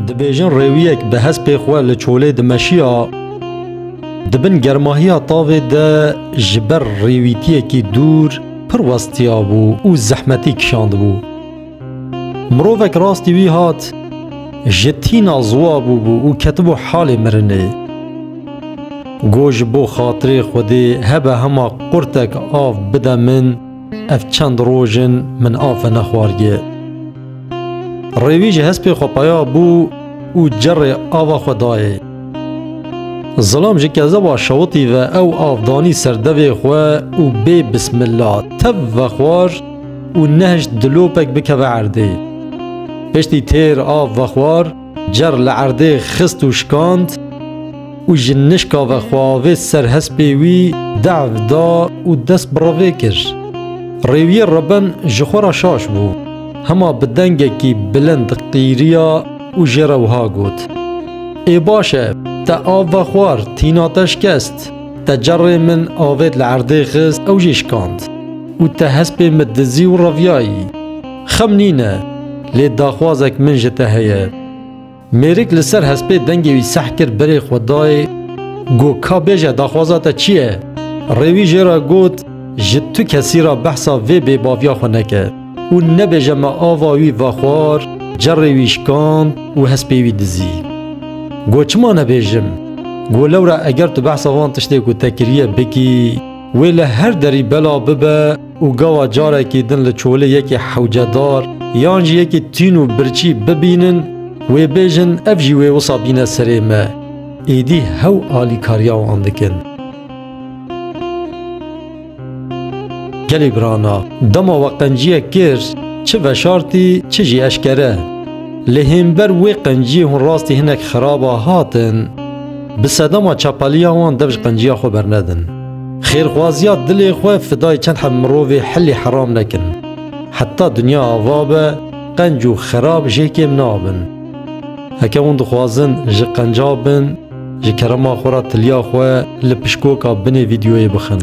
Dibêjin rêwiyek bi hespê xwe li çolê dimeşiya, di bin germahiya tavê de ji ber rêwîtiyekî dûr pir westiya bû û zehmetî kişandibû. Mirovek rastî wî hat, ji tîna ziwa bûbû û ketibû halê mirinê. Got ji bo xatirê Xwedê hebe hema qurtek av bide min, Ev çend roj in min afe nexwargiye. Rêwî ji hespê xwe peya bû û cerê ava xwe dayê. Zilam ji kezeba şewitî ve ew av danî ser devê xwe û bê bismilla tev vexwar û nehişt dilopek bikeve erdê. Piştî têr av vexwar, Cer li erdê xist û şikand û ji nişka ve xwe avê ser hespê wî dev da û dest bi revê kir. Rêwiyê reben ji xwe re şaş bû. Hema bi dengekî bilind qîriya û jê re wiha got, Ê baş e, te av ve xwar, tîna te şikest. Te cerê min avêt li erdê xist ew jî şikand û te hespê min dizî û reviyayî. Xemm nîne, lê daxwazek min ji te heye. Mêrik li ser hespê dengê wî seh kir berê xwe dayê, got, Ka bêje daxwaza te çi ye? Rê wî jê re got, Ji tu kesî re behsa vê bêbaviya xwe neke û nebêje me ava wî ve xwar, cerê wî şikand û hespê wî dizî. Got, Çima nebêjim? Got, Lewre eger tu behsa van tiştê ku te kiriye bikî, wê li her derî bela bibe, û gawa carekî din li çolê yekê hewcedar yan jî yekê tîn û birçî bibînin, wê bêjin ev jî wê wisa bîne serê me. Êdî hew alîkariya wan dikin. Gelê birana, dema we qenciyek kir, çi veşartî çi jî eşkere. Lê hênber wê qenciyê hûn rastî hinek xirab a hatin. bi sedema çapaliya wan dev ji qenciya xwe bernedin. Xêrxwaziya dilê xwe fidayê çend heb mirovê hilê heram nekin. Heta dinya ava be qenc û xerab jê kêm nabin. Heke hûn dixwazin ji qenca bin, ji kerema xwe re tiliya xwe li pişkoka binê vîdyoyê bixin.